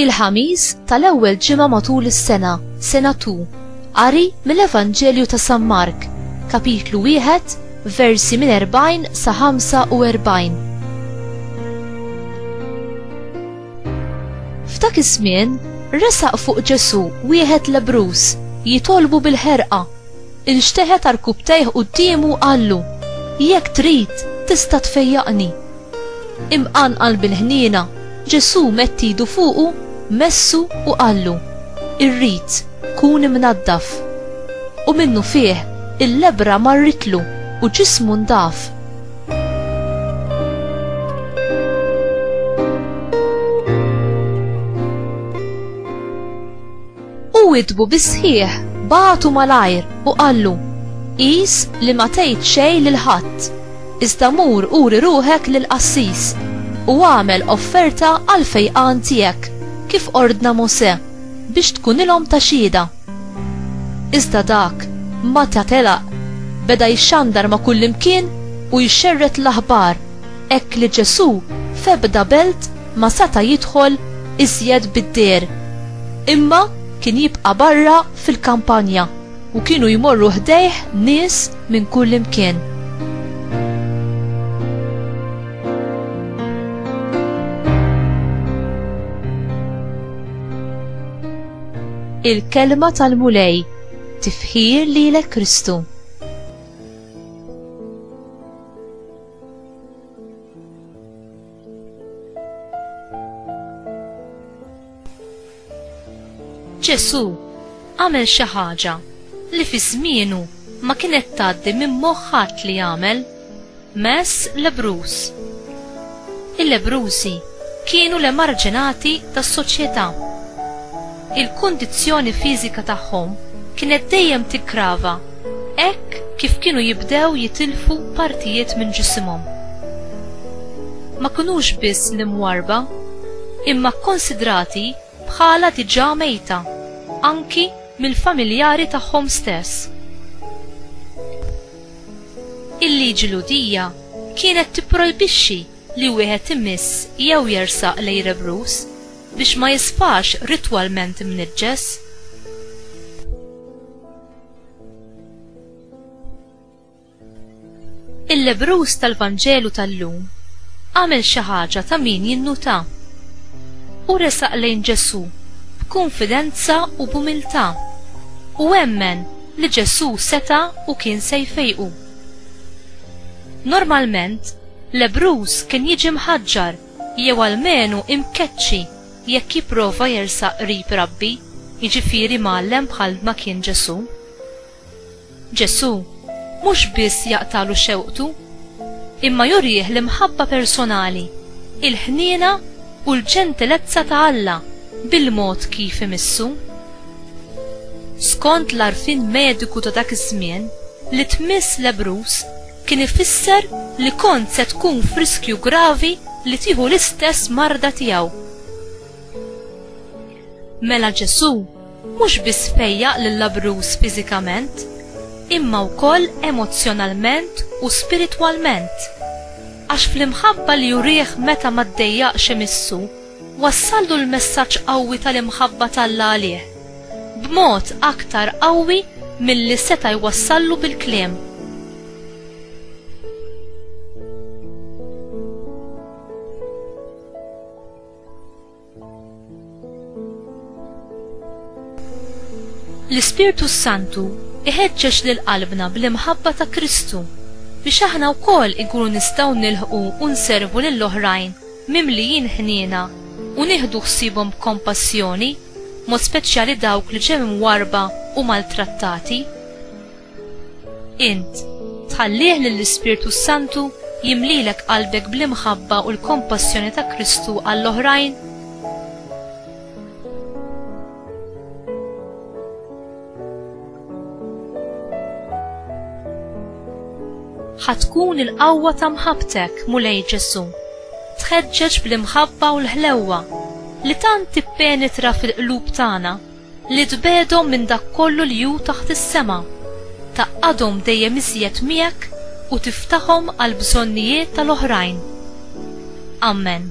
il-ħamis tal-ewwel ġimgħa matul is-sena, sena tu, qari mill-Evanġelju ta' San Mark, kapitlu wieħed, versi minn 40 sa 45. F'dak iż-żmien resaq fuq Ġesù wieħed lebruż jitolbu bil-ħerqa. Inxteħet arkubtejh quddiemu u qallu, Jekk trid, tista' tfejjaqni. Imqanqal bil-ħniena, Ġesù mett idu fuqu, messu u qallu, Irrid, kun imnaddaf. U minnufih il-lebbra marritlu u ġismu ndaf. U witbu bisħieħ batu malajr u qallu, Is li ma tgħid xejn lil ħadd, iżda mur uri ruħek lil qassis u għamel offerta għal fejqan tiegħek kif ordna Mosè biex tkunilhom ta' xhieda. Iżda dak, mata telaq, beda jxandar ma' kullimkien u jxerred l-aħbar, hekk li Ġesù f'ebda belt ma seta' jidħol iżjed bid-dehar, imma kien jibqa' barra fil-kampanja, u kienu jmorru ħdejh nies minn kullimkien. Il-kelma tal-Mulej tifħir lilek Kristu. Ġesu għamel xi ħaġa li fi żmienu ma kienet tgħaddi minn moħħat li jagħmel. Mess lebruż. Il-lebrużi kienu l-emarġinati tas-soċjetà. Il-kundizzjoni fiżika tagħhom kienet dejjem tiggrava hekk kif kienu jibdew jitilfu partijiet minn ġisimhom. Ma kinux biss l-imwarrba, imma kkunsidrati bħalha diġà mejta, anki mill-familjari tagħhom stess. Il-liġi Lhudija kienet tipprojbixxi li wieħed imiss jew jersaq lejn rebruż biex ma jisfax ritwalment imniġġes. Il-lebbruż tal-Vanġelu tal-lum għamel xi ħaġa ta' min jinnuta. Hu resaq lejn Ġesù b'kunfidenza u b'umiltà u emmen li Ġesù seta' u kien se jfejqu. Normalment, lebbruż kien jiġi mħaġġar jew almenu imkeċċi jekk jipprova jersaq qrib rabbi, jiġifieri mgħallem bħal ma kien Ġesù. Ġesù mhux biss jaqtagħlu xewqtu, imma jurih l-imħabba personali, il-ħniena u l-ġentilezza ta' Alla bil-mod kif imissu. Skont l-għarfien mediku ta' dak iż-żmien, li tmiss lebbruż kien ifisser li kont se tkun f'riskju gravi li tieħu l-istess marda tiegħu. Mela Ġesù Mhux biss fejjaq lill-abruż fiżikament, imma wkoll emozzjonalment u spiritwalment, għax fl-imħabba li jurih meta ma ddejjaqx imissu, wassallu l-messaġġ qawwi tal-imħabba t'Alla għalih, b'mod aktar qawwi milli seta' jwassallu bil-kliem. L-Ispirtu s-Santu iħeġġeġ lil qalbna bl-imħabba ta' Kristu biex aħna wkoll inkunu nistgħu nilħqu u nservu lil oħrajn mimlijin ħniena u nieħdu ħsiebhom b'kompassjoni, mod speċjali dawk li ġew imwarrba u maltrattati. Int, tħallih lill-Ispirtu s-Santu jimlilek qalbek bl-imħabba u l-kompassjoni ta' Kristu għall-oħrajn? ħatkun il-qawwa ta' mħabtek, Mulej Ġesu. Tħeġġeġ bl-imħabba u l-ħlewwa li tant tippenetra fil-qlub tagħna li tbegħedhom minn dak kollu li hu taħt is-sema, tgħaqqadhom dejjem iżjed miegħek u tiftahom għall-bżonnijiet tal-oħrajn. Ammen.